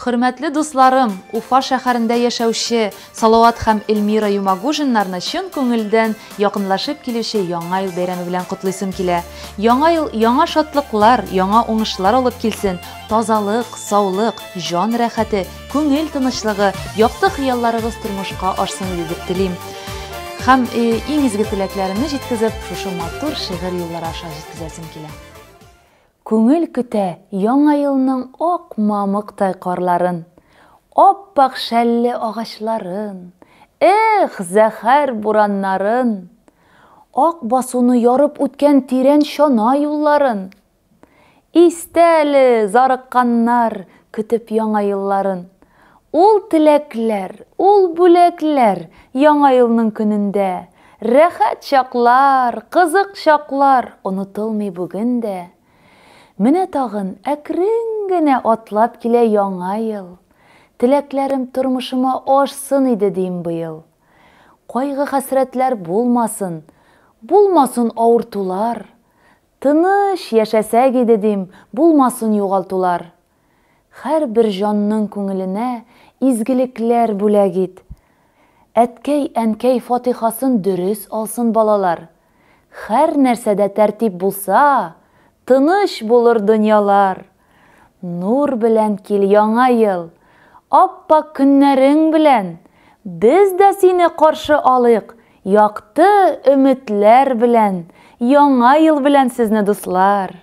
Хөрмәтле дусларым, Уфа шәһәрендә яшәүче Салават һәм Эльмира Юмагужиннарны чын күңелдән якынлашып килүче Яңа ел бәйрәме белән котлыйсым килә. Яңа ел яңа шатлыклар, яңа уңышлар алып килсен, тазалык, саулык, җан рәхәте, күңел тынычлыгы, якты хыялларыгыз тормышка ашсын иде дип телим. Һәм иң изге теләкләремне җиткезеп, шушы матур шигырь юллары аша җиткезәсем килә. Күңел көтә Яңа елның ак мамыктай карларын, ап-ак шәлле агачларын, эх, зәһәр бураннарын, ак басуны ярып үткән тирән чана юлларын. Истә әле, зарыкканнар, көтеп Яңа елларын, Ул теләкләр, ул бүләкләр Яңа елның көнендә. Рәхәт чаклар, кызык чаклар Онытылмый бүген дә. Менә тагын әкрен генә Атлап килә Яңа ел. Теләкләрем тормышыма ашсын иде дим быел. Кайгы-хәсрәтләр булмасын, Булмасын авыртулар. Тыныч яшәсәк иде дим, Булмасын югалтулар. Хәрбер җанның күңеленә изгелекләр бүләк ит. Әткәй, әнкәй фатихасын дөрес алсын балалар. Хәр нәрсәдә тәртип булса, тыныч булыр дөньялар. Нур белән кил яңа ел, ап-пак көннәрең белән. Без дә сине каршы алыйк якты өметләр белән, яңа ел белән сезне дуслар!